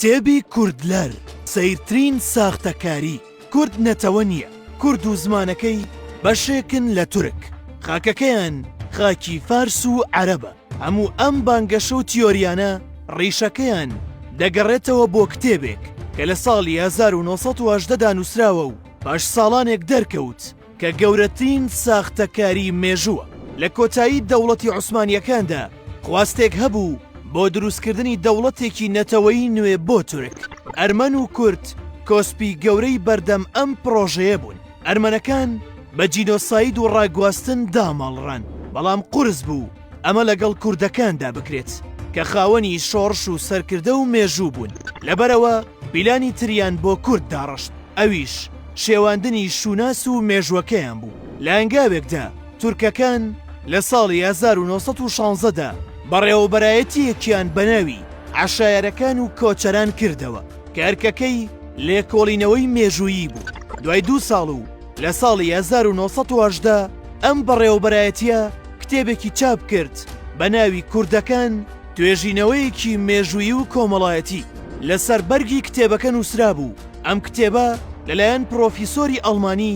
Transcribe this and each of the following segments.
کتێبی کوردلەر سەیرترین ساختەکاری، کورد نەتەوە نییە، کورد و زمانەکەی بەشێکن لە تورک، خاکەکەیان خاکی فارس و عەرەبە، هەموو ئەم بانگەشە و تیۆریانە ڕیشەکەیان دەگەڕێتەوە بۆ کتێبێک کە لە ساڵی هەزار و نۆ سەد و هەژدە دا نووسراوە و پاش ساڵانێک دەرکەوت، کە گەورەترین ساختەکاری مێژووە. لە کۆتایی دەوڵەتی عوسمانییەکاندا خواستێک هەبوو بۆ دروستکردنی دەوڵەتێکی نەتەوەیی نوێ بۆ تورک، ئەرمەن و کورد کۆسپی گەورەی بەردەم ئەم پڕۆژەیە بوون. ئەرمەنەکان بە جینۆساید و ڕاگواستن داماڵڕان، بەڵام قورس بوو. ئەمە لەگەڵ کوردەکاندا بکرێت کە خاوەنی شۆڕش و سەرکردە و مێژوو بوون لەبەرەوە پیلانی تریان بۆ کورد داڕشت ئەویش شێواندنی شوناس و مێژوەکەیان بوو لە ئەنگاوێکدا تورکەکان لە ساڵی 1916 دا بەڕێوەبەرایەتیەکیان بەناوی عەشایەرەکان و کۆچەران کردەوە کە ئەرکەکەی لێکۆڵینەوەی مێژوویی بوو دوای دوو ساڵ و لە ساڵی هەزار و نۆ سەد و هەژدە ئەم بەڕێوەبەرایەتییە کتێبێکی چاپ کرد بە ناوی کوردەکان، توێژینەوەیەکی مێژوویی و کۆمەڵایەتی. لەسەر بەرگی کتێبەکە نووسرابوو، ئەم کتێبە لەلایەن پرۆفیسۆری ئەڵمانی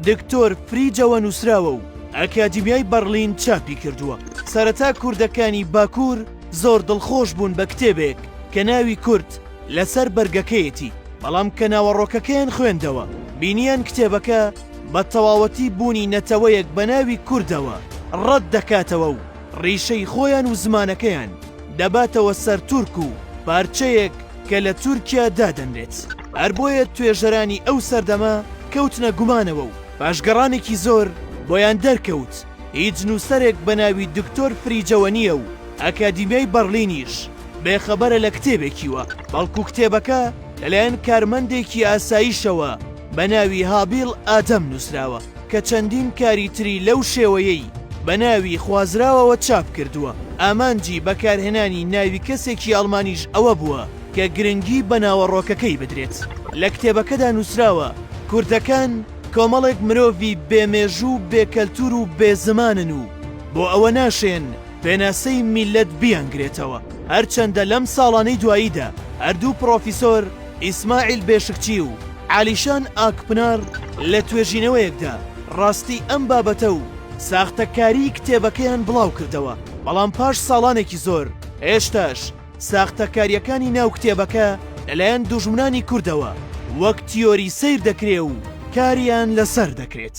دکتۆر فریجەوە نووسراوە و ئەکادیمیای بەڕلین چاپی کردووە. سەرەتا کوردەکانی باکوور زۆر دڵخۆش بوون بە کتێبێک کە ناوی کورد، لەسەر بەرگەکەیەتی، بەڵام کە ناوەڕۆکەکەیان خوێندەوە، بینییان کتێبەکە بە تەواوەتی بوونی نەتەوەیەک بە ناوی کوردەوە ڕەت دەکاتەوە و ڕیشەی خۆیان و زمانەکەیان دەباتەوە سەر تورک و پارچەیەک کە لە تورکیا دادەنرێت. هەر بۆیە توێژەرانی ئەو سەردەمە کەوتنە گومانەوە و پاشگەڕانێکی زۆر بۆیان دەرکەوت، هیچ نووسەرێک بە ناوی دکتۆر فریجەوە نییە و ئەکادیمیای بەڕلینیش بێ خەبەرە لە کتێبێکیوە، بەڵکو کتێبەکە لەلایەن کارمەندێکی ئاسایشەوە بە ناوی هابیڵ ئادەم نووسراوە کە چەندین کاری تری لەو شێوەیەی بە ناوی خوازراوەوە چاپ کردووە. ئامانجی بەکارهێنانی ناوی کەسێکی ئەڵمانیش ئەوە بووە کە گرنگی بە ناوەڕۆکەکەی بدرێت. لە کتێبەکەدا نووسراوە کوردەکان، کۆمەڵێک مرۆڤی بێ مێژوو و بێ کەلتوور و بێ زمانن و بۆ ئەوە ناشێن پێناسەی میللەت بیانگرێتەوە. هەرچەندە لەم ساڵانەی دواییدا هەردوو پڕۆفیسۆر ئیسماعیل بێشکچی و عالیشان ئاکپنار لە توێژینەوەیەکدا ڕاستی ئەم بابەتە و ساختەکاریی کتێبەکەیان بڵاو کردەوە، بەڵام پاش ساڵانێکی زۆر هێشتاش ساختەکارییەکانی ناو کتێبەکە لەلایەن دوژمنانی کوردەوە وەک تیۆری سەیر دەکرێ و کاریان لەسەر دەکرێت.